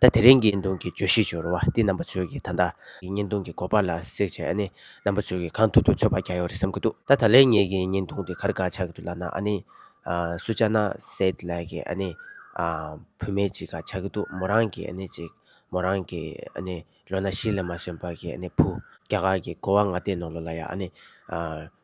ད་དེ་རིང་གི་བརྙན་ཐུང་གི་བརྗོད་གཞི་སྦྱོར་བ་འདི་རྣམ་པ་ཚོས་ཀྱིས་ད་ལྟ། གི་བརྙན་ཐུང་གི་གོ་བ་ལ་གསེག་བྱས་ཨ་ནི། རྣམ་པ་ཚོས་ཀྱིས་གང་ཐུབ་ཐུབ་འཚོལ་བར་བྱ་ཡོད་རེད་བསམ་གྱི་འདུག་ད་ད་ལན་ངེད་ཀྱི་བརྙན་ཐུང་འདི་གར་དགར་ཆགས་ཀྱི་འདུག་ལབ་ན་ཨ་ནི། སུ་ཅཱ་ན་སེད་ལགས་ཀྱིས་ཨ་ནི། བུད་མེད་ཅིག་གར་ཆགས་ཀྱི་འདུག་མོ་རང་གིས་ཨ་ནི་ཅིག། མོ་རང་གིས་ཨ་ནི། ལོ་ན་བཞི་ལས་མ་སོན་པར་གྱིས་ཨ་ནི་བུ། རྒྱ་གར་གྱི་གོ་བ་ང་ལྟས་ནོར་ལོ་ལ་ཡང་ཨ་ནི།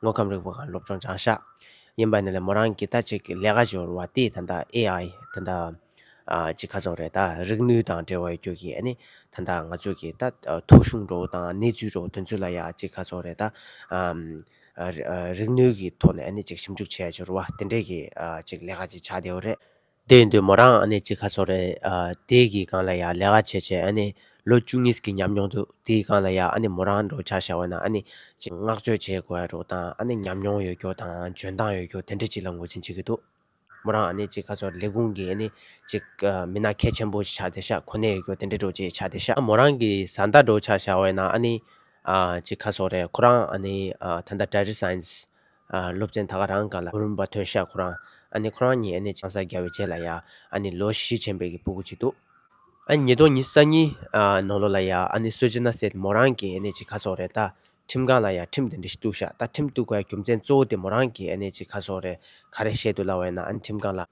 དངོས་ཁམས་རིག་པ་གང་སློབ་སྦྱོང་སྦྱང་བྱ་ཡིན་པ་ནི་ལས་མོ་རང་གིས་ལྟ་ཅི་ལས་ཀ་འབྱོར་བ་དེ་ད་ལྟ AI ད་ལྟ་ཅི་ཁ་ཚོགས་རེད་ད་རིག་ནུས་དང་འབྲེལ་བའི་རྒྱུ་གི་ཨ་ནི་ད་ལྟ་ང་ཚོས་ཀྱི་ད་ཐུགས་གཞུང་འགྲོ་བོ་དང་གནས་ཚུལ་འགྲོ་བོ་དེ་ཚོ་ལ་ཡ་ཅི་ཁ་ཚོགས་རེད་ད་རིག་ནུས་ཀྱི་ཐོག་ནས་ཨ་ནི་ཅིག་ཞིབ་འཇུག་བྱས་འབྱོར་བ་དེ་འདྲས་ཀྱི་ཅིག་ལས་ཀ་ཅིག་བྱ་བདེ་བོ་རེད། དེ་ཡིན་དུས་མོ་རང་ཨ་ནེ་གཅིག་ཁ་སོ་རེད། དེའི་གི་གང་ལ་ཡ་ལས་ཀ་བྱས་བྱས་ཨ་ནེ་ལོ་བཅུ་གཉིས་གི་ཉམས་མྱོང་འདུག་དེའི་གང་ལ་ཡ་ཨ་ནེ་མོ་རང་འགྲོ་ཆ་ཤ་བ་ན་ཨ་ནེ་ཅིག་བསྔགས་བརྗོད་བྱེད་དགོས་ཡ་རུག་དང་ཨ་ནེ་ཉམས་མྱོང་ཡོད་རྒྱུ་དང་འཇོན་ཐང་ཡོད་རྒྱུ་དེ་འདྲ་ཅིག་ལ་ངོས་འཛིན་བྱེད་གི་འདུག་མོ་རང་ཨ་ནེ་གཅིག་ཁ་སོ་རེད་ལས་ཁུངས་ཀྱི་ཨ་ནེ་ཅིག་མི་ན་ཁའི་ཆེན་པོ་ཤ་དེ་ཤ་གོ་གནས་ཡོད་རྒྱུ་དེ་འདྲ་འགྲོ་ཅིག་ཤ་དེ་ཤ་མོ་རང་གི་བཟའ་ཟླ་འགྲོ་ཆ་ཤ་བ་ན་ཨ་ནེ་ཅིག་ཁ་སོ་རེད་ཁོ་རང་ཨ་ནེ་ད་ལྟ Dairy Science སློབ་ཚན་ད་ག་རང་ག་ལ་བུར་འབའ་ཐོས་ཤག་ཁོ་རང། ཨ་ནི་ཁོ་རང་གཉིས་ཨ་ནེ་ཆང་ས་རྒྱ་བའི་རྗེས་ལ་ཡ། ཨ་ནི་ལོ་བཞི་ཆེན་པའི་གི་སྤུ་གུ་གཅིག་འདུག། ཨ་ནི་ཉིས་སྟོང་ཉིས་ས་གཉིས། ནོ་ལོ་ལ་ཡ། ཨ་ནི་སོས་ཅི་ན་སེ་མོ་རང་གི་ཨ་ནེ་ཅི་ག་སོག་རེད་ད། ཁྲིམས་ཁང་ལ་ཡ་ཁྲིམས་དེ་འདྲི་ཞིག་གཏུག་ཤག་ད་ཁྲིམས་གཏུག་ག་རྒྱུ་མཚན་གཙོ་བོ་དེ་མོ་རང་གི་ཨ་ནེ་ཅི་ག་སོག་རེད་ག་རེ་བཤད་འདུག་ལ་བས་ན་ཨ་ནི་ཁྲིམས་ཁང་ལ།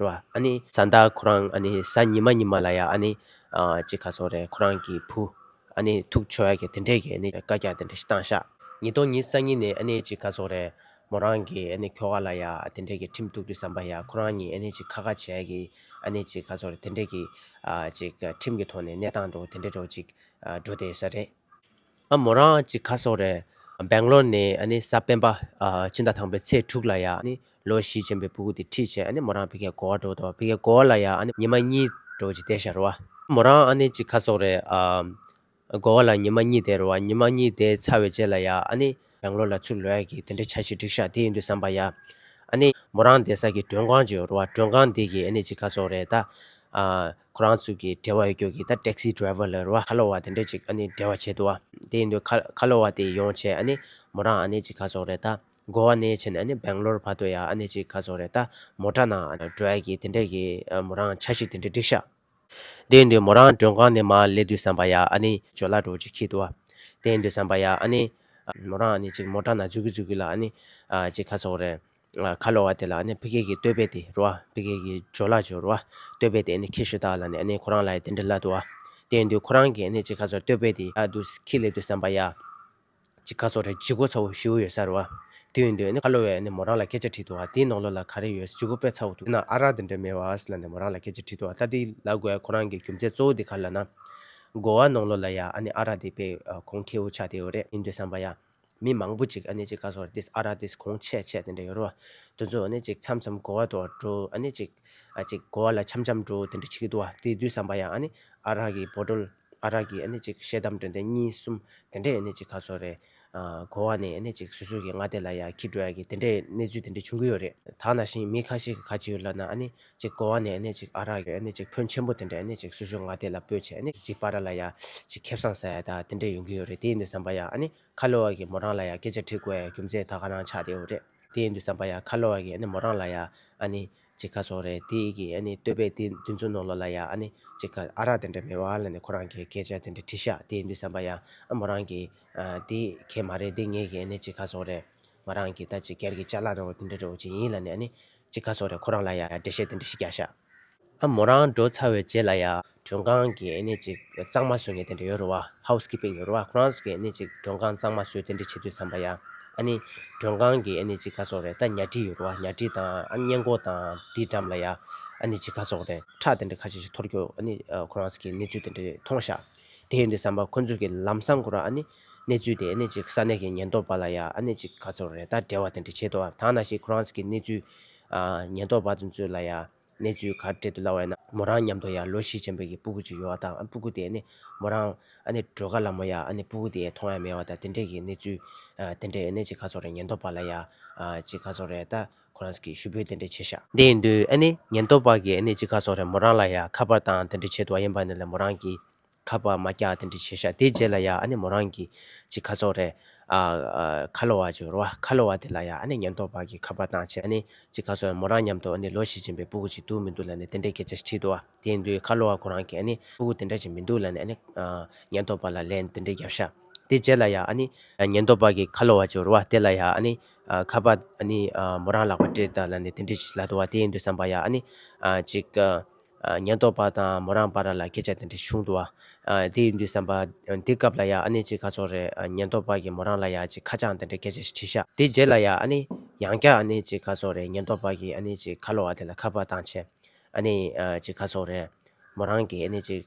རེད་བ། ཨ་ནི། བཟའ་ཟླ་ཁོ་རང་ཨ་ནི་བཟའ་ཉི་མ་ཉི་མ་ལ་ཡང་ཨ་ནི། ཅི་ག་སོགས་རེད་ཁོ་རང་གི་བུ། ཨ་ནི་ཐུགས་ཆོས་ཀྱི་དེ་འདྲས་ཀྱི་ཨ་ནི་བཀའ་རྒྱ་དེ་འདྲ་ཞིག་བཏང་ཤག། ཉིས་སྟོང་ཉིས་གསང་ཉིན་ནས་ཨ་ནི་ཅི་ག་སོགས་རེད། མོ་རང་གི་ཨ་ནི་ཁྱོ་ག་ལ་ཡང་དེ་འདྲས་ཀྱི་ཁྲིམས་གཏུགས་རྒྱུ་བསམ་པ་ཡང་ཁོ་རང་ཉིད་ཨ་ནི་ཅི་ཁ་ཁ་བྱས་ཀྱི་ཨ་ནི་ཅི་ག་སོགས་རེད་དེ་འདྲས་ཀྱི། ཅིག་ཁྲིམས་ཀྱི་ཐོག་ནས་གནས་སྟངས་འགྲོ་དེ་འདྲས་འགྲོ་ཅིག་འགྲོ་དེ་ས་རེད། ཨ་མོ་རང་གཅིག་ཁ་སོག་རེད། Bangalore ནས་ས་སྤེན་པ་སྤྱི་ཟླ་དང་པོའི་ཚེས་དྲུག་ལ་ཡ་ལོ་བཞི་ཆེན་པོའི་སྤུ་གུ་དེ་ཁྲིད་བྱས་མོ་རང་ཕི་ཁའི་གོ་བ་འགྲོ་དོ་ཕི་ཁའི་གོ་བ་ལ་ཡ་ཉི་མ་གཉིས་འགྲོ་ཅི་དེ་ཤར་བ། མོ་རང་ཨ་ནེ་གཅིག་ཁ་སོག་རེད། གོ་བ་ལ་ཉི་མ་གཉིས་དེ་རོ་བ་ཉི་མ་གཉིས་དེ་ཚར་བའི་རྗེས་ལ་ཡ Bangalore ལ་ཚུར་ལོས་གི་དེ་འདྲ་ཆ་ཞིག་བསྒྲིག་ཤག་དེ་ཡིན་དུ་བསམ་པ་ཡ་མོ་རང་དེ་ས་གི་མགྲོན་ཁང་ཅིག་རོ་བ་མགྲོན་ཁང་དེ་གི་ཨ་ནེ་གཅིག་ཁ་སོག་རེད་ད། ཁོ་རང་ཚོ་གི་འབྲེལ་བ་ཡོད་རྒྱུ་གི་ད taxi driver ལ་རུ་བ་ཁ་ལོ་བ་དེ་འདྲས་ཅིག་ཨ་ནི་འབྲེལ་བ་བྱེད་འདུག་བ། དེ་ཡིན་དུས་ཁ་ལོ་བ་དེ་ཡོང་ཆེད་ཨ་ནི་མོ་རང་ཨ་ནེ་ཅིག་ཁ་སོག་རེད་ད། གོ་བ་ནེ་ཆེན་ཨ་ནི་བེང་ལོར་བར་དུ་ཡང་ཨ་ནེ་ཅིག་ཁ་སོག་རེད་ད། མོ་དྲ་ནང་བྲོས་གི་དེ་འདྲས་གི་མོ་རང་ཆ་ཞིག་དེ་འདྲས་སྒྲིག་ཤག། དེ་ཡིན་དུས་མོ་རང་མགྲོན་ཁང་ནས་མ་སླེབས་དུས་བསམ་པ་ཡང་ཨ་ནི་ཇོ་ལ་འགྲོ་ཅིག་ཁྱི་འདུག་བ། དེ་ཡིན་དུས་བསམ་པ་ཡང་ཨ་ནི། མོ་རང་ཨ་ནེ་ཅིག་མོ་དྲ་ནང་འཛུལ་གི་འཛུལ་གི་ལ་ཨ་ནི། ཅིག་ཁ་སོག་རེད། ཁ་ལོ་བ་དེ་ལ་ཕི་ཀེ་ཀི་ལྟོས་པས་དེ་རུ་བ་ཕི་ཀེ་ཀི་ཇོ་ལ་ཇོ་རུ་བ་ལྟོས་པས་དེ་ཁི་ཤུ་དག་ལ་ནི་ཁོ་རང་ལ་དེ་འདྲི་ལ་དུ་བ། དེ་འདུག་ཁོ་རང་གི་ནི་ཅི་ཁ་སོར་ལྟོས་པས་དེ་ཨ་དུ་སི་ཁི་ལེ་དུ་སན་པ་ཡ། ཅི་ཁ་སོར་རེ་ཇི་གོ་ཚ་བོ་ཤི་བོ་ཡོད་ས་རུ་བ། དེ་འདུག་ཁ་ལོ་བས་མོ་རང་ལ་སྐད་ཆ་དྲིས་དུ་བ་དེའི་ནོག་ལོ་ལ་ག་རེ་ཡོད་ཇི་གོ་དཔེ་ཚ་བོ་འདུག་ན་ཨ་རག་དེ་འདྲ་མེད་བ་ཨ་ལ་ནི་མོ་རང་ལ་སྐད་ཆ་དྲིས་དུ་བ་ད་དེ་ལ་དགོས་ཁོ་རང་གི་རྒྱུ་མཚན་གཙོ་བོ་དེ་ག་ལ་ན། དགོ་བ་ནོག་ལོ་ལ་ཡ་ཨ་ནི་ཨ་རག་དེ་དཔེ་ཁོང་ཁེའུ་ཆགས་དེའོ་རེད་ཨིན་དུ་སན་པ་ཡ། མི་མང་པོ་ཅིག་ཨ་ཅིག་ཁ་སོར་ཏིས་ཨ་ར་ཏིས་གོང་ཆད་ཆད་དེ་འདྲ་ཡོད་རུང་དེ་ཚོ་ཨ་ཅིག་འཆམ་འཆམ་གོ་བ་དོར་འགྲོ་ཨ་ཅིག་ཨ་ཅིག་གོ་བ་ལ་འཆམ་འཆམ་འགྲོ་དེ་འདྲ་བྱེད་ཀྱི་འདུག་བ་དེ་དུས་བསམ་པ་ཡང་ཨ་རག་གི་བོ་དྲོལ་ཨ་རག་གི་ཨ་ཅིག་ཤེལ་དམ་དྲོད་འདི་གཉིས་གསུམ་དེ་འདྲས་ཨ་ཅིག་ཁ་སོར་རེད་གོ་བ་ནས་ཨ་ཅིག་སུས་སུས་ཀྱི་ང་དེ་ལ་ཡ་ཁྱི་འགྲོ་ཡ་གི་དེ་འདྲས་གནས་ཚུལ་དེ་འདྲས་བྱུང་གི་ཡོད་རེད། ད་ནང་བཞིན་མི་ཁ་ཤས་ཀྱི་ཁ་ཆེ་ཡོད་ལབ་ན་ཨ་ཅིག་གོ་བ་ནས་ཅིག་ཨ་རག་གི་ཅིག་ཕོན་ཆེན་པོ་དེ་འདྲ་ཅིག་སུས་སུས་ང་དེ་ལ་སྤོད་ཆེ་ཅིག་པ་ར་ལ་ཡ་ཅིག་ཁེབས་སང་ཟེ་ད་དེ་འདྲ་ཡོང་གི་ཡོད་རེད་དེ་ཡིན་དུ་བསམ་པ་ཡ་ཁ་ལོ་བ་གི་མོ་རང་ལ་ཡ་སྐད་ཆ་དྲིས་དགོས་ཡ་རྒྱུ་མཚན་ད་ག་རང་ཆགས་བསྡད་ཡོད་རེད་དེ་ཡིན་དུ་བསམ་པ་ཡ་ཁ་ལོ་བ་གི་མོ་རང་ལ་ཡ་ཅིག་ཁ་ཚོགས་རེད་དེ་གི་ལྟོས་པས་དེ་དུས་ཚོད་ནོར་ལོ་ལ་ཡ་ཅིག་ཨ་རག་དེ་འདྲ་མེད་བ་ལ་ནི་ཁོ་རང་གི་སྐད་ཆ་དེ་འདྲ་དྲིས་ཤག་དེ་ཡིན་དུ་བསམ་པ་ཡ་མོ་རང་གི་དེ་ཁྱེད་མ་རེད་དེ་ངེད་གི་ཅིག་ཁ་ཚོགས་རེད་ང་རང་གི་ད་ཅིག་སྒེར་གི་ལྕགས་ལ་རོ་དེ་འདྲ་རོ་ཅིག་ཡིན་ལ་ནི་ཅི་ཁ་སོགས་རེད་ཁོ་རང་ལ་ཡ་འདྲེ་བཤད་དེ་འདྲེ་ཤི་རྒྱག་ཤག། ཨ་མོ་རང་འགྲོ་ཚར་བའི་རྗེས་ལ་ཡ། མགྲོན་ཁང་གི་ཨེ་ནས་ཅིག་གཙང་མ་བཟོས་ངེས་དེ་འདྲ་ཡོད་རུ་བ House Keeping ཡོད་རུ་བ་ཁོ་རང་ཚོ་གི་ཨེ་ནས་ཅིག་མགྲོན་ཁང་གཙང་མ་བཟོས་དེ་འདྲ་བྱེད་དུས་བསམ་པ་ཡ། ཨ་ནི། མགྲོན་ཁང་གི་ཨེ་ནས་ཅིག་ཁ་སོགས་རེད་ད་ཉལ་ཁྲི་ཡོད་རུ་བ་ཉལ་ཁྲི་དང་ཨ་གཉེན་སྒོ་དང་དེའི་འགྲམ་ལ་ཡ། ཨ་ནི་ཅི་ཁ་སོགས་རེད་ཁྲག་དེ་འདྲ་ཁ་ཤས་ཤིག་འཐོར་རྒྱུ་ཨ་ནི། ཁོ་རང་ཚོ་གི་གནས་ཚུལ་དེ་འདྲ་མཐོང་ཤག་དེ་ཡིན་དུས་བསམ་པ་ཁོ་ཚོ་གི་ལམ་སང་དགོ་ར་ཨ་ནི། གནས་ཚུལ་དེ་ནི་གཅིག་ས་གནས་ཀྱི་ཉེན་རྟོག་པ་ལ་ཡ་ཨ་ནི་གཅིག་ག་ཚོར་རེ་ད་འབྲེལ་བ་དེ་འདྲ་བྱེད་དོ་ཐང་ན་ཞིག་ཁོ་རང་ཚིག་གི་གནས་ཚུལ་ཨ་ཉེན་རྟོག་པ་དེ་ཚོས་ལ་ཡ་གནས་ཚུལ་གར་སྤྲད་དུ་སླ་བས་ན་མོ་རང་མཉམ་དུ་ཡ་ལོ་བཞི་ཆེན་པོ་ཀྱི་སྤུ་གུ་ཅིག་ཡོད་བ་དང་སྤུ་གུ་དེ་ནི་མོ་རང་ཨ་ནི་སྒྲོལ་དཀར་ལ་མོ་ཡ་ཨ་ནི་སྤུ་གུ་དེ་མཐོང་ཡ་མེད་བ་དང་དེ་འདྲས་ཀྱི་གནས་ཚུལ་ཨ་དེ་འདྲས་ཨ་ནི་གཅིག་ག་ཚོར་རེ་ཉེན་རྟོག་པ་ལ་ཡ་ཨ་གཅིག་ག་ཚོར་རེ་ད་ཁོ་རང་ཚིག་གི་ཞུ་འབོད་དེ་འདྲས་བྱས་ཤག། དེ་ཡིན་དུས་ཨ་ནི་ཉེན་རྟོག་པ་གིས་ཨ་ནི་གཅིག་ག་ཚོར་རེ་མོ་རང་ལ་ཡ་ཁ་པར་དང་དེ་འདྲས་བྱེད་དུ་བ་ཡིན་པ་ནི་ལས་མོ་རང་གིས། ཁ་པར་མ་རྒྱག་དེ་འདྲ་བྱས་ཤག་དེའི་རྗེས་ལ་ཡང་ཨ་ནེ་མོ་རང་གིས་ཅིག་ཁ་ཚོགས་རེད། ཁ་ལོ་བ་ཅིག་རོ། ཁ་ལོ་བ་དེ་ལ་ཡང་ཨ་ནེ་ཉེན་རྟོག་པ་གིས་ཁ་པར་བཏང་ཆེད་ཨ་ནེ་ཅིག་ཁ་ཚོགས་མོ་རང་མཉམ་དུ་ཨ་ནེ་ལོ་ཞིག་སྦྱིན་པའི་སྤུ་གུ་ཅིག་འདུག་མི་འདུག་ལ་ནི་དེ་འདྲའི་སྐད་ཆ་ཞིག་དྲིས་འདུག་བ། དེ་ཡིན་དུས་ཁ་ལོ་བ་ཁོ་རང་གིས་ཨ་ནེ་སྤུ་གུ་དེ་འདྲ་ཅིག་མི་འདུག་ལ་ནི་ཨ་ནེ་ཉེན་རྟོག་པ་ལ་ལན་དེ་འདྲ་བརྒྱབ་ཤག་དེའི་རྗེས་ལ་ཡང་ཨ་ནེ་ཉེན་རྟོག་པ་གིས་ཁ་ལོ་བ་ཅིག་རོ་བ་དེ་ལ་ཡང་ཨ་ནེ་ཁ་པར་ཨ་ནེ་མོ་རང་ལག་པར་སྤྲད་ད་ལ་ནི་དེ་འདྲ་ཞིག་ལ་དུ་བ་དེ་ཡིན་དུས་བསམ་པ་ཡང་ཨ་ནེ་ཅིག་ཉེན་རྟོག་པ་དང་མོ་རང་བར་ལ་སྐད་ཆ་དེ་འདྲ་བྱུང་འདུག་དེ་ཡིན་དུས་བསམ་པ། འདི་སྐབས་ལ་ཡང་ཨ་ནེ་ཅིག་ཁ་ཚོར་རེད་ཉེན་རྟོག་པ་གིས་མོ་རང་ལ་ཡང་ཅིག་ཁ་བྱང་དེ་འདྲ་སྐད་ཆ་ཞིག་དྲིས་ཤག་དེ་རྗེས་ལ་ཡང་ཨ་ནེ། ཡང་བསྐྱར་ཨ་ནེ་ཅིག་ཁ་ཚོར་རེད་ཉེན་རྟོག་པ་གིས་ཨ་ནེ་ཅིག་ཁ་ལོ་བ་དེ་ལ་ཁ་པར་བཏང་ཆེད། ཨ་ནེ། ཅིག་ཁ་ཚོར་རེད། མོ་རང་གིས་ཨ་ནེ་ཅིག།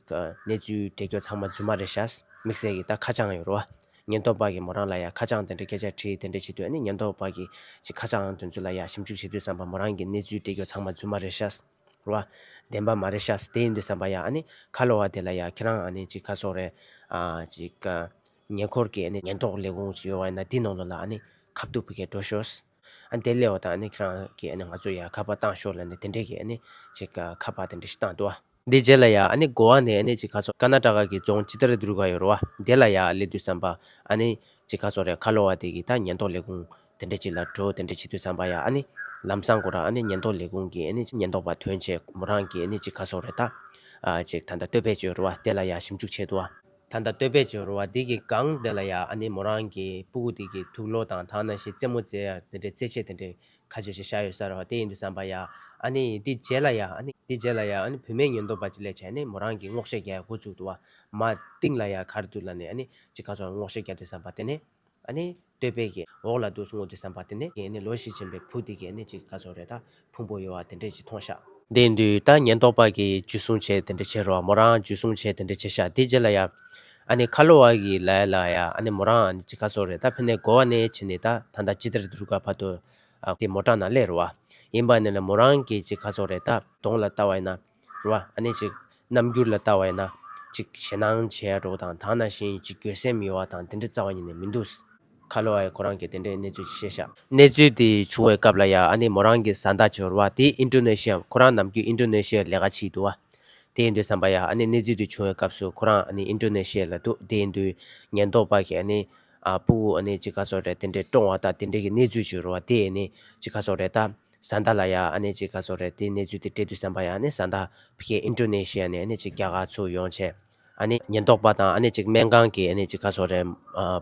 གནས་ཚུལ་འབྲེལ་སྐྱོར་ཚང་མ་རྫུན་མ་རེད་ཤག་དམིགས་བསལ་གྱིས་ད་ཁ་བྱང་ཡོད་རུང་ཨ། ཉེན་རྟོག་པ་གིས་མོ་རང་ལ་ཡང་ཁ་བྱང་དེ་འདྲ་སྐད་ཆ་དྲིས་དེ་འདྲ་བྱེད་དུས་ཨ་ནེ་ཉེན་རྟོག་པ་གིས་ཅིག་ཁ་བྱང་དོན་ཚུལ་ལ་ཡང་ཞིབ་འཇུག་བྱེད་དུས་བསམ་པ་མོ་རང་གིས་གནས་ཚུལ་འབྲེལ་སྐྱོར་ཚང་མ་རྫུན་མ་རེད་ཤག། རོ། བདེན་པ་མ་རེད་ཤ་ཟ་དེ་ཡིན་དུས་བསམ་པ་ཡ་ཨ་ནི་ཁ་ལོ་བ་དེ་ལ་ཡ་ཁྱེད་རང་ཨ་ནི་ཅིག་ཁ་སོ་རེ། ཨ་ཅིག་ཀ། ཉེ་འཁོར་གྱི་ཨ་ནི་ཉེན་རྟོག་ལས་ཁུངས་ཅིག་ཡོད་བ་ཡིན་ན་དེའི་ནང་དུ་ལ་ཨ་ནི་ཁ་བཏུབ་པོ་གས་འགྲོ་ཤོགས། ཨ་ནི་དེ་སླེ་བ་དང་ཨ་ནི་ཁྱེད་རང་གིས་ཨ་ནི་ང་ཚོ་ཡ་ཁ་པ་བཏང་ཤོགས་ལ་ནི་དེ་འདྲས་ཀྱི་ཨ་ནི་ཅིག་ཀ་ཁ་པ་དེ་འདྲས་ཤིག་བཏང་འདུག། དེའི་རྗེས་ལ་ཡ་ཨ་ནི་དགོ་བ་ནས་ཨ་ནི་ཅིག་ཁ་སོ་ཀ་ན་ཀྲ་ཀ་གི་རྫོང་ཅི་ལྟར་བསྡུར་ག་ཡོད་རོ་བ་དེ་ལ་ཡ་ཨ་སླེ་དུས་བསམ་པ་ཨ་ནི་ཅིག་ཁ་སོ་རེ་ཁ་ལོ་བ་དེ་གིས་ད་ཉེན་རྟོག་ལས་ཁུངས་དེ་འདྲ་ཅིག་ལ་འགྲོ་དེ་འདྲ་བྱེད་དུས་བསམ་པ་ཡ་ཨ་ནི། ལམ་བཟང་དགོ་ར་ཨ་ནི་ཉེན་རྟོག་ལས་ཁུངས་ཀྱི་ཨ་ནི་ཉེན་རྟོག་པ་དོན་ཆེད་མོ་རང་གི་ཨ་ནི་ཅིག་ཁ་སོག་རེ་ད། ཨ་ཅིག་ད་ད་སྟོད་བེད་སྤྱོད་རུ་བ་དེ་ལ་ཡ་ཞིབ་འཇུག་བྱེད་དུ་བ། ད་ད་སྟོད་བེད་སྤྱོད་རུ་བ་དེ་གི་གང་དེ་ལ་ཡ་ཨ་ནི་མོ་རང་གི་སྤུ་གུ་དེ་གི་ཐུགས་ལོ་དང་དག་ན་ཤི་རྩེ་མོ་རྩེ་ཡ་དེ་འདྲ་རྩེ་ཆེད་དེ་འདྲ་ཁ་ཆེ་ཆེ་བཞག་ཡོད་ས་ར་བ་དེ་ཡིན་དུས་བསམ་པ་ཡ་ཨ་ནི་དེ་རྗེས་ལ་ཡ་ཨ་ནི་དེ་རྗེས་ལ་ཡ་ཨ་ནི་བུད་མེད་ཉེན་རྟོག་པ་ཅིག་ལས་བྱས་ནི་མོ་རང་གི་རྔོག་ཤ་རྒྱལ་ཡ་འགོ་བཙུགས་དུ་བ། མ་ཏིང་ལ་ཡ་གར་དུ་ལ་ནི་ཨ་ནི་ཅིག་ཁ་སོག་རྔོག་ཤ་རྒྱལ་དུས་བསམ་པ་དེ་ནི། བསྟོད་པའི་འོག་ལ་དུག་སྔོ་དུས་སམ་བ་དེ་ནས་ཀྱི་ལོ་བཞི་ཆེན་པའི་བུ་དེ་ཀྱི་ནི་ཅིག་ཀ་ཚོགས་རེ་ད་ཕུང་པོ་ཡོ་བ་དེ་འདྲས་ཀྱི་ཐོང་ཤག། དེ་འདུས་ད་ཉེན་རྟོག་པ་ཀྱི་ཇུས་སྲུང་བྱས་དེ་འདྲས་བྱེད་རོགས་མོ་རང་ཇུས་སྲུང་བྱས་དེ་འདྲས་བྱེད་ཤག་དེ་རྗེས་ལ་ཡ། ཨ་ནི་ཁ་ལོ་བ་ཀྱི་ལ་ཡ་ལ་ཡ་ཨ་ནི་མོ་རང་ནི་ཅིག་ཀ་ཚོགས་རེ་ད་ཕི་ནས་གོ་བ་ནས་ཆེ་ནི་ད་ད་ད་ཅི་དེར་དུར་ཀ་བ་དོ། ཨ་ཀི་མོ་བྲག་ན་ལས་རོ་བ། ཡིན་པ་ནི་ལ་མོ་རང་ཀྱི་ཅིག་ཀ་ཚོགས་རེ་ད་དོང་ལ་ལྟ་བ་ཡིན་ན། རུ་བ་ཨ་ནེ་ཅིག། རྣམ་འགྱུར་ལ་བལྟ་བ་ཡིན་ན། ཅིག་ཞེ་སྣང་བྱེད་ཡ་འགྲོ་དང་དག་ན་ཞིང་ཅིག་འགྱོད་སེམས་ཡོད་བ་དང་དེ་འདྲ་རྩ་བ་ཉིད་ནས་མི་འདུག། ཁ་ལོ་ཨའི་ཁོ་རང་གི་དེ་འདྲའི་གནས་ཚུལ་གྱི་ཤེས་བྱ། གནས་ཚུལ་དེ་བྱུང་བའི་སྐབས་ལ་ཡ་ཨ་ནེ་མོ་རང་གི་བཟའ་ཟླ་ཅིག་རུ་བ་དེ་ཨིན་ཀྲུ་ནེ་ཤི་ཡའམ་ཁོ་རང་ནམ་རྒྱུན་ཨིན་ཀྲུ་ནེ་ཤི་ཡར་ལས་ཀ་བྱེད་ཀྱི་འདུག་བ། དེ་ཡིན་དུས་བསམ་པ་ཡ་ཨ་ནེ་གནས་ཚུལ་དེ་བྱུང་བའི་སྐབས་སུ་ཁོ་རང་ཨ་ནེ་ཨིན་ཀྲུ་ནེ་ཤི་ཡ་ལ་འདུག་དེ་ཡིན་དུས་ཉེན་རྟོག་པ་གིས་ཨ་ནེ། ཨ་སྤུ་བོ་ཨ་ནེ་ཅིག་ཁ་སོག་རེད་དེ་འདྲས་བཀྲོངས་བ་དང་དེ་འདྲས་ཀྱི་གནས་ཚུལ་ཅིག་རུ་བ་དེ་ཨེ་ནེ་ཅིག་ཁ་སོག་རེད་ད། བཟའ་ཟླ་ལ་ཡང་ཨ་ནེ་གཅིག་ག་ཚོད་རེད་དེའི་གནས་ཚུལ་དེ་སྤྲད་དུས་བསམ་པ་ཡང་ཨ་ནེ་བཟའ་ཟླ་ཕིག་ཨིན་ཀྲོ་ནེ་ཤི་ཡ་ནས་ཨ་ནེ་གཅིག་རྒྱ་གར་ཚུར་ཡོང་ཆེད། ཨ་ནེ་ཉེན་རྟོག་པ་དང་ཨ་ནེ་གཅིག་སྨན་ཁང་གི་ཨ་ནེ་གཅིག་ག་ཚོད་རེད་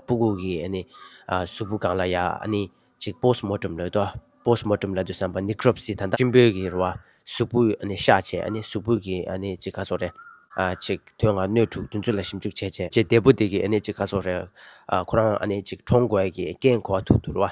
སྤུ་གུག་གི་ཨ་ནེ། གཟུགས་པོ་གང་ལ་ཡང་ཨ་ནེ་གཅིག་པོས་མོ་ཀྲུམ་ལོས་ཏོ་པོས་མོ་ཀྲུམ་ལ་དུས་བསམ་པ་ནི་ཀྲོབ་སི་ད་ལྟ་ཀྲིམ་པོའི་གི་རུ་བ་གཟུགས་པོས་ཨ་ནེ་ཤ་ཆེ་ཨ་ནེ་གཟུགས་པོས་གི་ཨ་ནེ་གཅིག་ག་ཚོད་རེད། ཆིག་ཐོན་ང་སྣོད་དྲུག་བདུན་ཚོད་ལ་ཞིབ་འཇུག་བྱས་ཆེད། ཅེས་འདས་པོ་དེ་གི་ཨ་ནེ་གཅིག་ག་ཚོད་རེད། ཁོ་རང་ཨ་ནེ་གཅིག་ཁྲོང་དགོས་གི་རྐྱེན་གོ་བ་ཐུག་འདུག་རུ་བ་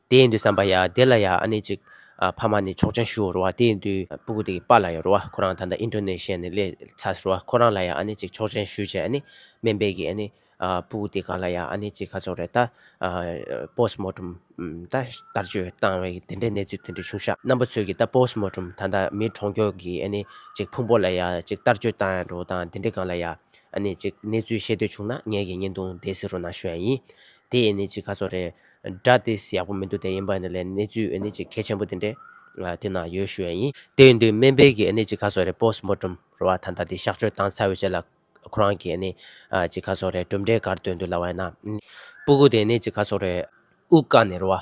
དེ་ཡིན་དུས་བསམ་པ་ཡ་དེ་ལ་ཡ་ཨ་ནི་གཅིག། ཕ་མ་ནི་ཆོག་ཆང་ཞུ་བར་བ་དེ་ཡིན་དུས་སྤུ་གུ་དེའི་པ་ལ་ཡོར་བ་ཁོ་རང་ད་ལྟ་ཨིན་ཏྲོ་ནེ་ཤི་ཡ་ནི་ལས་ཚར་བ་ཁོ་རང་ལ་ཡ་ཨ་ནི་གཅིག་ཆོག་ཆང་ཞུ་བྱས་ཨ་ནི་སྨན་པས་གིས་ཨ་ནི། སྤུ་གུ་དེ་གང་ལ་ཡ་ཨ་ནི་གཅིག་ཁ་ཚོགས་རེད་ད། Post Mortem། ད་ལྟར་བཅོས་བཏང་བའི་དེ་འདྲའི་གནས་ཚུལ་དེ་འདྲའི་བྱུང་ཤག་རྣམ་པ་ཚོས་གིས་ད Post Mortem ད་ད་མི་གྲོང་ཁྱོག་གིས་ཨ་ནི་གཅིག་ཕུང་པོ་ལ་ཡ་གཅིག་ལྟར་བཅོས་བཏང་ཡ་འགྲོ་དང་དེ་འདྲའི་གང་ལ་ཡ་ཨ་ནི་གཅིག་གནས་ཚུལ་ཤེས་འདོད་བྱུང་ན་ངས་གིས་བརྙན་ཐུང་དེ་བསེ་རུ་ན་ཞུ་ཡ་ཡིན་དེ་ཨེ་ནི་གཅིག་ཁ་ཚོགས་རེད་སྒྲ་དེ་ཡག་པོ་མི་འདུག་དེ་ཡིན་པ་ནི་ལས་གནས་ཚུལ་ཨེ་ནི་ཅིག་གལ་ཆེན་པོ་དེ་འདྲས་དེ་ན་ཡོད་ཞུ་ཡ་ཡིན། དེ་ཡིན་དུས་སྨན་དཔེ་གི་ཨེ་ནི་ཅིག་ཁ་སོགས་རེད་པོས་མོ་གྲུམ་རོ་བ་ད་ད་དེ་གཤགས་བཅོས་དང་ཚ་བའི་ཆེད་ལ་ཁོ་རང་གི་ཨེ་ནི་ཅིག་ཁ་སོགས་རེད་གྲུབ་འབྲས་གར་སྟོན་དུ་ལ་བ་ཡིན་ན་སྤུ་གུ་དེ་ཨེ་ནི་ཅིག་ཁ་སོགས་རེད། དབུགས་ཀ་ནས་རོ་བ་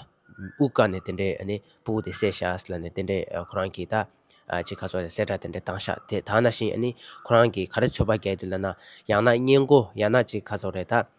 དབུགས་ཀ་ནས་དེ་འདྲས་ཨེ་ནི་སྤུ་གུ་དེ་སེ་ཤ་ཨས་ལ་ནས་དེ་འདྲས་ཁོ་རང་གི་ད་ཅིག་ཁ་སོགས་རེད་སེ་སྒྲ་དེ་འདྲས་དང་ཤག་དེ་དག་ན་བཞིན་ཨེ་ནི་ཁོ་རང་གི་ག་རེ་ཚོད་པ་རྒྱལ་དུ་ལ་ན་ཡང་ན་སྙན་གོ་ཡང་ན་ཅིག་ཁ་སོགས་རེད་ད།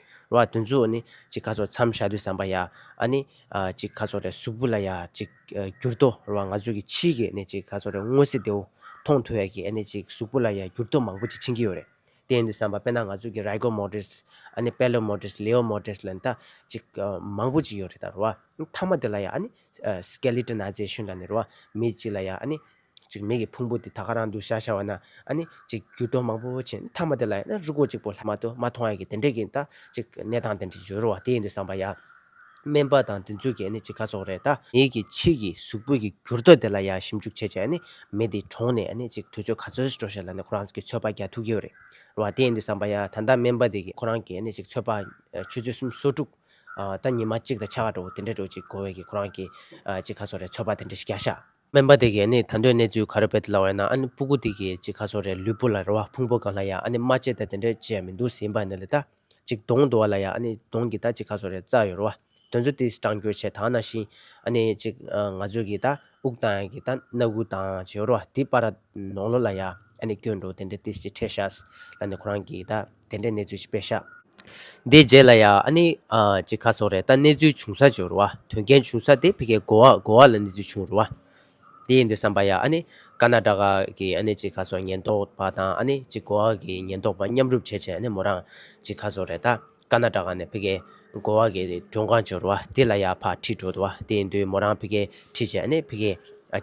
རོ་ཨ་དུས་མཚུངས་ཨ་ནི་ཅིག་ཁ་སོར་མཚམས་བཞག་དུས་བསམ་པ་ཡ་ཨ་ནི། ཅིག་ཁ་སོར་རེ་གཟུགས་བུ་ལ་ཡ་ཅིག་གྱུར་ཏོ་རོ་ཨ་ང་ཚོས་ཀྱི་ཕྱིའི་གི་ཨ་ནི་ཅིག་ཁ་སོར་རེ་དངོས་གཟིགས་དེའོ་མཐོང་ཐོས་ཡ་གི་ཨ་ནི་ཅིག་གཟུགས་བུ་ལ་ཡ་གྱུར་ཏོ་མང་པོ་ཅིག་ཕྱིན་གྱི་ཡོད་རེད་དེ་ཡིན་དུས་བསམ་པ་དཔེར་ན་ང་ཚོས་ཀྱི་རཱི་གོ་མོ་ཏིས་ཨ་ནི་པེ་ལོ་མོ་ཏིས་ལེའོ་མོ་ཏིས་ལན་ད་ཅིག་མང་པོ་ཅིག་ཡོད་རེད་ད་རོ་ཨ་ཐ་མ་དེ་ལ་ཡ་ཨ་ནི། Skeleton ཨ་ཅེ་ཤུན་ལ་ནི་རོ་ཨ་མི་ཅིག་ལ་ཡ་ཨ་ནི། ཅིག་མིག་གི་ཕུང་པོ་དེ་ད་ག་རང་འདུག་ཤ་ཤ་བ་ན་ཨ་ནི། ཅིག་འགྱུར་ལྡོག་མང་པོ་བོ་ཆེ་མཐའ་མ་དེ་ལ་ཡང་ན་རུ་སྒོ་ཅིག་པོ་ལྷག་མ་དུ་མ་མཐོང་ཡ་གི་དེ་འདྲས་ཀྱི་ད་ཅིག་གནས་སྟངས་དེ་འདྲས་ཀྱི་འགྱུར་བ་དེ་ཡིན་འདུག་བསམ་པ་ཡ། སྨན་པ་དང་དེ་ཚོས་ཀྱི་ཨ་ནི་ཅིག་ག་སོག་རེད་ད། མིག་གི་ཕྱིས་ཀྱི་གཟུགས་པོ་ཀྱི་འགྱུར་ལྡོག་དེ་ལ་ཡང་ཞིབ་འཇུག་བྱས་བྱས་ཨ་ནི་མི་དེ་གྲོངས་ནས་ཨ་ནི་ཅིག་དུས་ཚོད་ག་ཚོད་སྤྲོ་བྱས་ལ་ནི་ཁོ་རང་ཚོ་གི་ཚོད་དཔག་རྒྱག་ཐུབ་ཀྱི་ཡོད་རེད། བ་དེ་ཡིན་འདུག་བསམ་པ་ཡ་ད་ལྟ་སྨན་པ་དེ་གི་ཁོ་རང་གི་ཨ་ནི་ཅིག་ཚོད་དཔག་ཆུ་ཚོད་གསུམ་སོ་དྲུག། ད་ཉི་མ་གཅིག་དང་ཆ་ག་འགྲོ་བོ་དེ་འདྲས་འགྲོ་ཅིག་གོ་བས་ཀྱི་ཁོ་རང་གི། ཅིག་ག་སོག་རེད་ཚོད་དཔག་དེ་འདྲས་ཤིག་རྒྱག་ཤག། སྨན་པ་དེ་གས་ནི་ད་འདོད་གནས་ཚུལ་ག་རེ་བེད་དུ་ལ་བས་ན་ཨ་ནི་སྤུ་གུ་དེ་གས་ཅི་ཁ་སོ་རེད་ལུས་པོ་ལ་རེ་བ་ཕུང་པོ་གང་ལ་ཡ་ཨ་ནི་རྨ་བྱེད་ད་དེ་འདྲས་ཅི་ཡ་མི་འདུག་ཟིན་པ་ནི་ལི་ད་ཅིག་གདོང་དུ་བ་ལ་ཡ་ཨ་ནི་གདོང་གི་ད་ཅི་ཁ་སོ་རེད་རྩ་ཡོ་རོ་བ་དོན་ཚོ་དེ་སྤྲང་འགྱོད་ཆེ་དང་ན་ཤིང་ཨ་ནི་ཅིག་ང་ཚོས་གི་ད་དབུག་དང་ཡ་གི་ད་སྣ་དགུ་དང་ཅི་ཡོ་རོ་བ་དེ་པ་ར་ནོག་ལོ་ལ་ཡ་ཨ་ནི་སྐྱོན་འགྲོ་དེ་འདྲས་དེ་ཅི་ཁྲེ་ཤ་ཟ་ལ་ནི་ཁོ་རང་གི་ད། དེ་འདྲའི་གནས་ཚུལ་ཞིག་པེ་ཤ། དེའི་རྗེས་ལ་ཡང་ཨ་ནི་ཅི་ཁ་སོགས་རེད་ད་གནས་ཚུལ་བྱུང་ས་བྱུང་རུ་བ་དོན་རྐྱེན་བྱུང་ས་དེ་ཕི་ཁའི་གོ་བ་གོ་བ་ལ་གནས་ཚུལ་བྱུང་རུ་བ་དེ་ཡིན་འདུག་བསམ་པ་ཡང་ཨ་ནི་ཀ་ན་ཀྲ་ཀ་གི་ཨ་ནི་ཅི་ཁ་སོགས་ཉེན་རྟོག་པ་དང་ཨ་ནི་ཅི་གོ་བ་གི་ཉེན་རྟོག་པ་མཉམ་རུབ་བྱས་བྱས་ཨ་ནི་མོ་རང་ཅི་ཁ་སོགས་རེད་ད་ཀ་ན་ཀྲ་ཀ་ནས་ཕི་ཁའི་གོ་བ་གི་མགྲོན་ཁང་བྱུང་རུ་བ་དེ་ལ་ཡང་ཕར་ཁྲིད་འགྲོ་འདུག་བ་དེ་ཡིན་དུས་མོ་རང་ཕི་ཁའི་ཁྲིད་བྱས་ཨ་ནི་ཕི་ཁའི་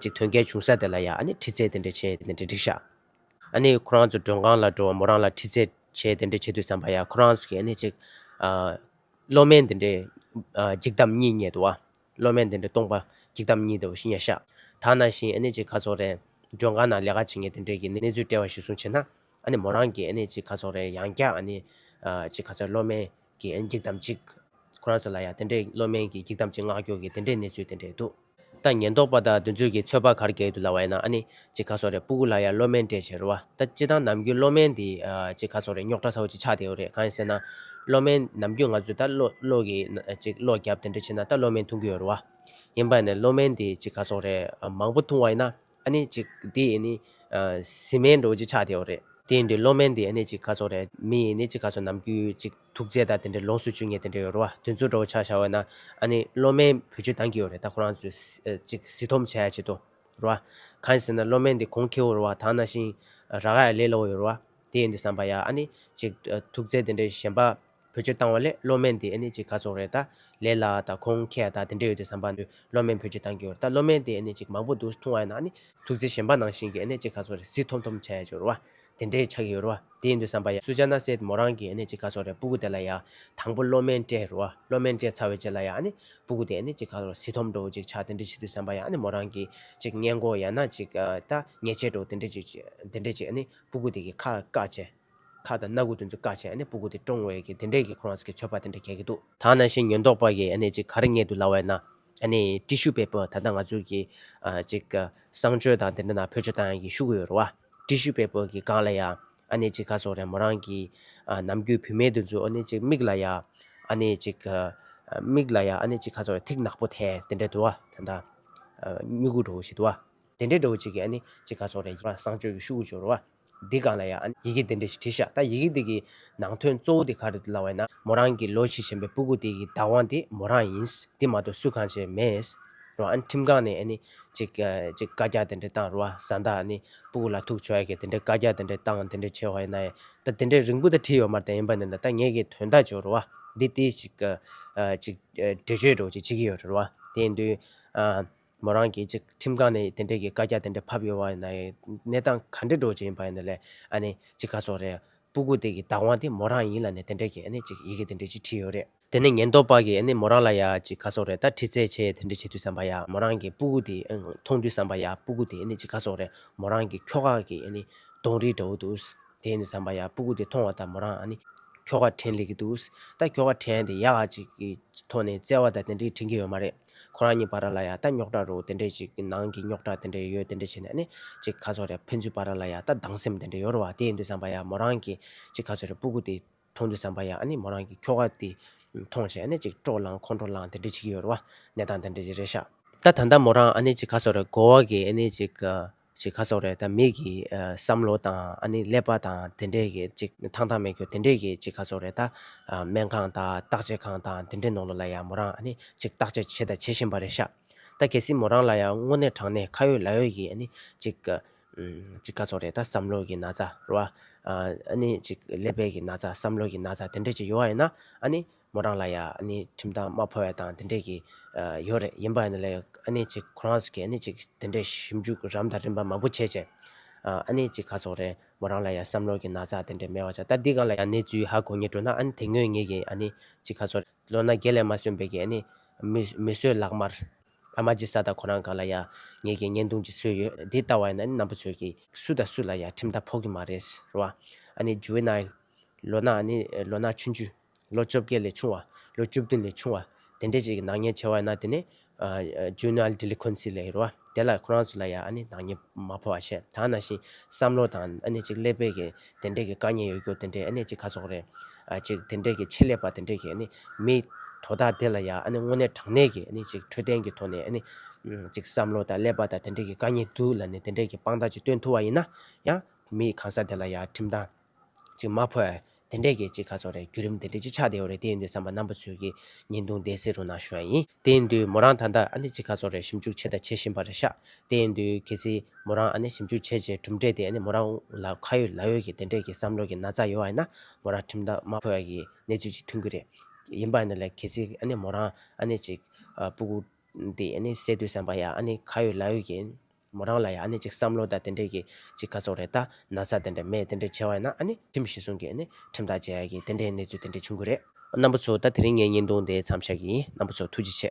ཅིག་དོན་རྐྱེན་བྱུང་ས་དེ་ལ་ཡང་ཨ་ནི་ཁྲིད་ཚད་དེ་འདྲའི་ཆེ་དེ་འདྲའི་འགྲིག་ཤག། ཨ་ནི་ཁོ་རང་ཚོ་མགྲོན་ཁང་ལ་འགྲོ་བ་མོ་རང་ལ་འཁྲིད་ཚད་བྱས་དེ་འདྲས་བྱེད་དུས་བསམ་པ་ཡ་ཁོ་རང་ཚོ་གིས་ཨ་ནི་ཅིག་བློ་དམན་དེ་འདྲས་འཇིགས་སྟངས་གཉིས་རྙེད་འདུག་བློ་དམན་དེ་འདྲས་སྟོང་པ་འཇིགས་སྟངས་གཉིས་འདུག་ཤི་ཉ་ཤ་ད་ནང་བཞིན་ཨ་ནི་ཅིག་ཁ་ཚོགས་རེ་མགྲོན་ཁང་ནང་ལས་ཀ་བྱེད་མཁན་དེ་འདྲས་ཀྱིས་གནས་ཚུལ་བཀྲལ་བ་ཞིག་གསུངས་བྱས་ན་ཨ་ནི་མོ་རང་གིས་ཨ་ནི་ཅིག་ཁ་ཚོགས་རེ་ཡང་བསྐྱར་ཨ་ནི་ཅིག་ཁ་ཚོགས་བློ་དམན་གྱིས་འཇིགས་སྟངས་གཅིག་ཁོ་རང་ཚོ་ལ་ཡ་དེ་འདྲས་བློ་དམན་གྱིས་འཇིགས་སྟངས་གཅིག་སྔགས་སྐྱོགས་ཀྱིས་དེ་འདྲས་གནས་ཚུལ་དེ་འདྲས་འདུག། ད་ཉེན་རྟོག་པ་དང་དུས་ཚོད་ཀྱི་ཚོད་དཔག་གར་གྱིས་དུ་ལ་བ་ཡིན་ན་ཨ་ནི། ཅེས་ཁ་སོགས་རེད་སྤུ་གུ་ལ་ཡང་བློ་དམན་སྤྲད་བྱས་རུ་བ་ད་སྤྱི་དང་ནམ་རྒྱུན་བློ་དམན་དེ། ཅེས་ཁ་སོགས་རེད་རྙོག་དྲ་ཚ་བོ་ཅིག་ཆགས་བསྡད་ཡོད་རེད་གང་ཡིན་ཟེར་ན། བློ་དམན་ནམ་རྒྱུན་ང་ཚོས་ད་བློ་བློ་གི། ཅེས་བློ་རྒྱབ་དེ་འདྲ་བྱས་ན་ད་བློ་དམན་འཐུང་གི་ཡོད་རུ་བ། ཡིན་པ་ནས་བློ་དམན་དེ་ཅེས་ཁ་སོགས་རེད་མང་པོ་འཐུང་བ་ཡིན་ན་ཨ་ནི། ཅེས་དེ་ཡིན་ནི། ཟིན་མེད་འགྲོ་བོ་ཅིག་ཆགས་བསྡད་ཡོད་རེད། དེ་ཡིན་དུས་བློ་དམན་དེ་ཨ་ནི་ཅེས་ཁ་སོགས་རེད་མི་ཡིན་ནི་ཅེས་ཁ་སོགས་ནམ་རྒྱུན་ཅེས། ཐུགས་བརྩེ་དང་དེ་འདྲའི་ལོངས་སུ་སྤྱོད་ངེས་དེ་འདྲ་ཡོད་རེད་བ་དེ་ཚོ་འགྲོ་ཆགས་བྱ་བ་ན་ཨ་ནི་བློ་དམན་བོད་སྤྱོད་སྟངས་ཀྱི་ཡོད་རེད་ད་ཁོ་རང་ཚོས་ཅིག་བཟི་འཐོམ་བྱས་ཡ་བྱེད་དོ་རེད་བ་གང་ཟེར་ན་བློ་དམན་དེ་གོང་ཁེའོ་རེད་བ་དང་ན་ཤིང་ར་ག་ཡ་ལས་སླ་བོ་ཡོད་རེད་བ་དེ་ཡིན་དུ་བསམ་པ་ཡ་ཨ་ནི་ཅིག་ཐུགས་བརྩེ་དེ་འདྲའི་གཞན་པ་བོད་སྤྱོད་སྟངས་བ་ལས་བློ་དམན་དེ་ཨ་ནི་ཅིག་ག་ཚོགས་རེད་ད་ལས་སླ་བ་དང་གོང་ཁེ་ཡ་དང་དེ་འདྲ་ཡོད་དུ་བསམ་པ་ནི་བློ་དམན་བོད་སྤྱོད་སྟངས་ཀྱི་ཡོད་རེད་ད་བློ་དམན་དེ་ཨ་ནི་ཅིག་མང་པོ་འདུག་ཐུང་བ་ཡ་ན་ཨ་ནི་ཐུགས་བརྩེ་གཞན་པ་ནང་བཞིན་གྱི་ཨ་ནི་ཅིག་ག་ཚོགས་རེད་བཟི་འཐོམ་འཐོམ་བྱས་ཡ་བྱེད་རེད་བ་དེ་འདྲའི་ཆགས་ཡོད་རུ་བ་དེ་ཡིན་དུས་བསམ་པ་ཡ་སུ་ཅག་ན་སྲས་མོ་རང་གི་ནི་ཅི་ག་སོག་རེད་སྤུ་གུ་དེ་ལ་ཡ། དང་པོ་སློབ་མའི་སྤྲད་རུ་བ་སློབ་མའི་སྤྲད་ཚར་བའི་རྗེས་ལ་ཡ་ནི་སྤུ་གུ་དེ་ནི་ཅི་ག་རུ་སི་ཐོམ་འགྲོ་བོ་ཅིག་ཆགས་དེ་འདྲས་བྱེད་དུས་བསམ་པ་ཡ་ནི་མོ་རང་གི་ཅིག་བསྙད་མགོ་ཡ་ན་ཅིག་ད་ཉེས་ཆད་འགྲོ་བོ་དེ་འདྲས་ཅིག་དེ་འདྲས་བྱེད་ནི་སྤུ་གུ་དེ་གི་ཁ་བཀག་བྱས། ཁ་དང་སྣ་གུ་དེ་ཚོ་བཀག་བྱས་ཡ་ནི་སྤུ་གུ་དེ་བཀྲོང་བའི་གི་དེ་འདྲས་གི་ཁོ་རང་ཚོ་གི་ཚོད་དཔག་དེ་འདྲས་གས་གི་འདུག། ཐང་ན་ཤིང་ཉོན་རྟོག་པ་གི་ཡ་ནི་ཅིག་ག་རེ་བསྙད་དུ་ལ་བས་ན་ཨ་ནི་ཏི་ཤུ་པའི་པོ་ད་ལྟ་ང་ཚོའི་གི་ཅིག་ག་བསང་མཆོད་དང་དེ་འདྲ་ན་བོད་ཆོས་དང་ཡང་གི་ཤུགས་ཡོད་རུ་བ། ཏི་ཤུ་པའི་པོ་གི་སྒང་ལ་ཡང་ཨ་ནི་ཅིག་ག་སོགས་རན་མོ་རང་གི་ནམ་རྒྱུན་བུད་མེད་དུ་འཛུལ་ཨོ་ནི་ཅིག་མིག་ལ་ཡང་ཨ་ནི་ཅིག་ག་མིག་ལ་ཡང་ཨ་ནི་ཅིག་ག་སོགས་ཐིག་ནག་པོ་དེ་དེ་འདྲ་དུ་བ་ད་ད་སྨྱུ་གུ་འགྲོ་བ་ཞིག་དུ་བ། དེ་འདྲ་འགྲོ་བ་ཅིག་གི་ཨ་ནི་ཅིག་ག་སོགས་རན་བསང་མཆོད་གི་ཤུགས་ཀྱི་འཇོག་རུ་བ། འདི་གང་ལ་ཡང་ཡི་གེ་འདི་འདྲ་ཞིག་བྲིས་ཤག་ད་ཡི་གེ་འདི་གི་ནང་དོན་གཙོ་བོ་དེ་ག་རེད་འདུག་ལབ་བས་ན་མོ་རང་གི་ལོ་བྱི་ཆེན་པོའི་སྤུ་གུ་དེ་གི་བདག་དབང་དེ་མོ་རང་ཡིན་འདི་མ་གཏོགས་སུ་གང་བྱས་མེད་རུང་ཨ་ནི་ཁྲིམས་ཁང་ནས་ཨ་ནི་ཅིག་ཅིག་བཀའ་རྒྱ་དེ་འདྲ་བཏང་རུང་བཟའ་ཟླ་ཨ་ནི་སྤུ་གུ་ལ་ཐུག་བྱོས་གི་དེ་འདྲ་བཀའ་རྒྱ་དེ་འདྲ་བཏང་དེ་འདྲ་བྱས་བས་ན་ད་དེ་འདྲ་རིང་པོ་ད་བྲིས་ཡོད་མ་ད་ཡིན་པ་ནི་ད་ངེད་ཀྱི་དོན་དག་བྱོས་རུང་བ་འདི་དེ་ཅིག་ཅིག་འགྲེལ་བརྗོད་རོགས་ཅིག་བྱེད་ཀྱི་ཡོད་རེད་རུང་བ་དེ་ཡིན་དུས་ཨ། མོ་རང་གིས་ཁྲིམས་ཁང་ནས་དེ་འབྲེལ་གྱི་བཀའ་རྒྱ་དེ་འདྲ་ཕབ་ཡོད་པ་ན་ཡང་གནས་སྟངས་ག་འདྲས་འགྲོ་བཞིན་ཡོད་པ་ཡིན་ན་ལས་ཨ་ནི་ཅི་ག་སོགས་རེད། སྤུ་གུ་དེ་གི་བདག་དབང་དེ་མོ་རང་ཡིན་ལ་ནས་དེ་འདྲས་གྱི་ཨ་ནི་ཅིག་ཡི་གེ་དེ་འདྲས་ཅིག་བྲིས་ཡོད་རེད། དེ་ནས་ཉེན་རྟོག་པ་གིས་ཨ་ནི་མོ་རང་ལ་ཡང་ཅིག་ག་སོགས་རེད་ད་ཁྲི་རྩད་བྱེད་དེ་འདྲས་བྱེད་དུས་བསམ་པ་ཡང་མོ་རང་གིས་སྤུ་གུ་དེ་མཐོང་དུས་བསམ་པ་ཡང་སྤུ་གུ་དེ་ཨ་ནི་ཅིག་ག་སོགས་རེད་མོ་རང་གིས་ཁྱོ་ག་གི་ཨ་ནི་གདོང་རིས་འདྲ་བོ་འདུག། དེ་ནས་ཟམ་པ་ཡ་སྤུ་གུ་དེ་མཐོང་བ་ལྟར་མོ་རང་ནི། ཁྱོ་ག་དྲན་ལེ་གི་འདུག་ད་ཁྱོ་ག་དྲན་དེ་ཡག་ཅིག་གི་ཐོག་ནས་བཙལ་བ་ད་དེ་འདྲའི་དྲན་གི་ཡོད་མ་རེད་ཁོ་རང་གཉིས་པ་ར་ལ་ཡ་ད་རྙོག་དྲ་རུ་དེ་འདྲའི་ཅིག་ནང་གི་རྙོག་དྲ་དེ་འདྲའི་ཡོད་དེ་འདྲའི་བྱས་ནས་ནི་ཅིག་ག་ཚོད་རེད་ཕན་ཚུན་པ་ར་ལ་ཡ་ད་སྡང་སེམས་དེ་འདྲའི་ཡོད་རུ་བ་དེ་འདུག་ཟམ་པ་ཡ་མོ་རང་གི་ཅིག་ག་ཚོད་རེད་སྤུ་གུ་དེ་མཐོང་དུས་ཟམ་པ་ཡ་ནི་མོ་རང་གི་ཁྱོ་ག་དེ་མཐོང་བྱས་ནས་ཅིག་སྤྲོ་ལང་ཁོང་ཁྲོ་ལང་དེ་འདྲའི་བྱེད་ཀྱི་ཡོད་རུ་བ་གནས་སྟངས་དེ་འདྲའི་ཅིག་རེད་ཤག། ད་ད་ད་མོ་རང་ནི་ཅིག་ག་ཚོད་རེད་དགོ་བ་གི་ནི་ཅིག་ཅིག་ཁ་སོགས་རེད་ད་མིག་གི་བསམ་བློ་དང་ཨ་ནི་ཀླད་པ་དང་དེ་འདྲས་ཀྱི་ཅིག་ཐང་ཐང་མེད་ཁྱོ་དེ་འདྲས་ཀྱི་ཅིག་ཁ་སོགས་རེད་ད། སྨན་ཁང་དང་བརྟག་དཔྱད་ཁང་དང་དེ་འདྲས་ནོར་ལོ་ལ་ཡང་མོ་རང་ཨ་ནི་ཅིག་བརྟག་དཔྱད་བྱས་དང་བྱེད་བཞིན་པ་རེད་ཤག་ད་གལ་སྲིད་མོ་རང་ལ་ཡང་དངོས་གནས་དྲང་གནས་ཁ་ཡོད་ལག་ཡོད་ཀྱི་ཨ་ནི་ཅིག། ཅིག་ཁ་སོགས་རེད་ད་བསམ་བློ་གྱི་ན་ཚ་རོ། ཨ་ནི་ཅིག་ཀླད་པའི་གྱི་ན་ཚ་བསམ་བློ་གྱི་ན་ཚ་དེ་འདྲས་ཅིག་ཡོད་ཡིན་ན་ཨ་ནི། མོ་རང་ལ་ཡང་ཨ་ནེའི་ཁྲིམས་ཐག་མ་ཕོ་བས་དང་དེ་འདྲས་ཀྱི་ཡོད་རེད་ཡིན་པ་ནི་ལས་ཨ་ནེ་གཅིག་ཁོ་རང་ཚོ་གིས་ཨ་ནེ་གཅིག་དེ་འདྲས་ཞིབ་འཇུག་རམ་དང་རིམ་པ་མང་པོ་བྱས་བྱས་ཨ་ནེ་གཅིག་ག་ཚོགས་རེད་མོ་རང་ལ་ཡང་བསམ་བློ་གྱི་ན་ཚ་དེ་འདྲས་མེད་བ་ཆགས་ད་འདི་གང་ལ་ཡང་གནས་ཚུལ་ཧ་གོ་ངེས་འགྲོ་ན་ཨ་ནེ་དེ་སྔོན་ངེད་ཀྱིས་ཨ་ནེ་གཅིག་ག་ཚོགས་རེད་ལོ་ན་རྒས་ལས་མ་སོན་པའི་གི་ཨ་ནེ་མི་གསོད་ལག་དམར་ཨ་མ་ཇི་ས་ད་ཁོ་རང་གང་ལ་ཡང་ངེད་ཀྱིས་བརྙན་ཐུང་ཅིག་བཟོས་ཡོད་དེ་ལྟ་བ་ཡིན་ན་ཨ་ནེ་རྣམ་པ་ཚོས་ཀྱིས་སུ་དང་སུ་ལ་ཡང་ཁྲིམས་ཐག་ཕོག་གི་མ་རེད་ཟེར་བ་ཨ་ནེ Juvenile ལོ་ན་ཨ་ནེ་ལོ་ན་ཆུང་ཆུང། ལོ་བཅོ་བརྒྱད་ལས་ཆུང་བ། ལོ་བཅུ་བདུན་ལས་ཆུང་བ། དེ་འདྲའི་ཅིག་གི་ནག་ཉེས་བྱས་བ་ཡིན་ན་དེ་ནི། Juvenile Delinquency། ལས་རོལ་བ། དེ་ལ་ཁོ་རང་ཚོ་ལ་ཡང་ཨ་ནི་ནག་ཉེས་མ་ཕོག་བ་བྱས་ད་ནང་བཞིན་བསམ་བློ་དང་ཨ་ནི་ཅིག་ཀླད་པའི་གི་དེ་འདྲའི་གི་དཀའ་ཉེན་ཡོད་རྒྱུ་དེ་འདྲའི་ཨ་ནི་ཅིག་ག་ཚོགས་རེད། ཅིག་དེ་འདྲའི་གི་ཆེད་ལས་པ་དེ་འདྲའི་གི་ཨ་ནི་མི། དོ་བདག་དེ་ལ་ཡང་ཨ་ནི་དངོས་གནས་དྲང་གནས་གི་ཨ་ནི་ཅིག་འཕྲོད་བསྟེན་གི་ཐོག་ནས་ཨ་ནི། ཅིག་བསམ་བློ་དང་ཀླད་པ་དང་དེ་འདྲའི་གི་དཀའ་ཉེན་སྡུག་ལ་ནི་དེ་འདྲའི་གི་དཔང་རྟགས་ཅིག་སྟོན་ཐུབ་བ་ཡིན་ན། ཡང་མི་གང་ཟག་དེ་ལ་ཡང་ཁྲིམས་དང། ཅིག་མ་ཕོད། དེ་འདྲས་ཀྱི་ཅིག་ཁ་ཚོར་རེད་བརྒྱུད་རིམ་དེ་འདྲས་ཅིག་ཆགས་བསྡད་ཡོད་རེད་དེ་ཡིན་དུས་བསམ་པ་རྣམ་པ་ཚོས་ཀྱིས་ཉིན་དུང་ལྡན་བསེ་རུ་ནང་ཞོན་ཡིན་དེ་ཡིན་དུས་མོ་རང་ད་ལྟ་ཨ་ནེ་ཅིག་ཁ་ཚོར་རེད་ཞིབ་འཇུག་བྱས་དང་བྱེད་བཞིན་པ་རེད་ཤག་དེ་ཡིན་དུས་གལ་སྲིད་མོ་རང་ཨ་ནེ་ཞིབ་འཇུག་བྱས་རྗེས་གྲུབ་འབྲས་དེ་ཨ་ནེ་མོ་རང་ལ་ཁ་ཡོད་ལག་ཡོད་ཀྱི་དེ་འདྲས་ཀྱི་བསམ་བློ་གྱི་ན་ཚ་ཡོད་ཨ་ཡིན་ན་མོ་རང་ཁྲིམས་ཐག་མ་ཕོད་ཀྱི་གནས་ཚུལ་ཅིག་ཐོན་གྱི་རེད་ཡིན་པ་ནི་ལས་གལ་སྲིད་ཨ་ནེ་མོ་རང་ཨ་ནེ་ཅིག་པུ་གུ་དེ་ཨ་ནེ་བསད་དུས་བསམ་པ་ཡ་ཨ་ནེ་ཁ་ཡོད་ལག་ཡོད་ཀྱི་མོ་རང་ལ་ཡང་ཨ་ནི་ཅིག་བསམ་བློ་དང་དེ་འདྲས་ཀྱི་ཅིག་ཁ་ཚོགས་རེ་ད་ན་ཚ་དེ་འདྲས་མེད་དེ་འདྲས་ཆེ་བ་ཡིན་ན་ཨ་ནི་ཁྲིམས་བཞིན་བཟུང་གི་ཨ་ནི་ཁྲིམས་ཐག་བཅད་གི་དེ་འདྲས་གནས་ཚུལ་དེ་འདྲས་བྱུང་གི་རེད། རྣམ་པ་ཚོ་ད་དེ་རིང་ངས་བརྙན་ཐུང་དེ་མཚམས་བཞག་གི་ཡིན་རྣམ་པ་ཚོ་ཐུགས་རྗེ་ཆེ།